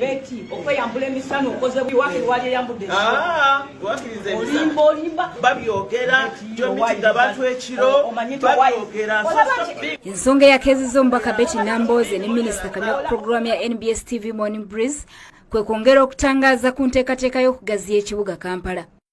Beti okweyambula emisana okoze wakiri wali eyambudde ah, olimba olimba babyogera gyomitiga bantu ekiro babyogera ensonga eyakeeziza omubaka beti nambooze ne minisita kamya ku pulogulaamu ya nbs tv morning breeze kwe kwongera okutangaaza ku nteekateeka y'okugaziya ekibuga kampala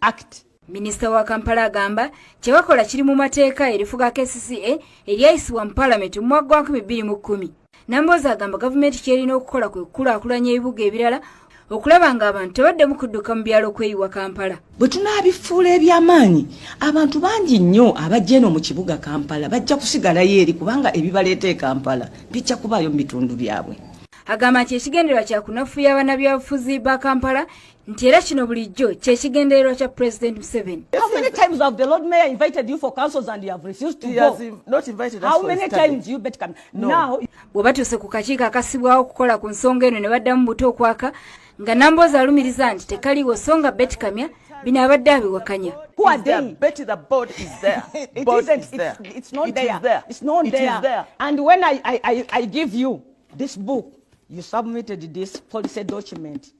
act minisita wa kampala agamba kyebakola kiri mu mateeka erifuga kcca eryayisibwa mu palamenti mu mwaka gwa 210 namboozi agamba gavumenti kyerina okukola kwe kukulaakulanya ebibuga ebirala okulaba nga abantu tebaddemu kudduka mu byalo kweyiwa kampala bwe tunaabifuula ebyamaanyi abantu bangi nnyo abajja eno mu kibuga kampala bajja kusigalayo eri kubanga ebibaleeta e kampala bijja kubaayo mu bitundu byabwe agamba nti ekigendererwa kyakunafuya banabyabufuzi ba kampala nti era kino bulijjo kyekigendererwa kya president museveni how many times have the lord mayor invited you for councils and you have refused to go not invited how many times you bet come no. now bwe batuuse ku kakiiko akasibwawo okukola ku nsonga eno ne baddamu buto okwaka nga namboozi alumiriza nti tekaliwo so nga betikamya bino abadde abiwakanya this book you submitted this policy document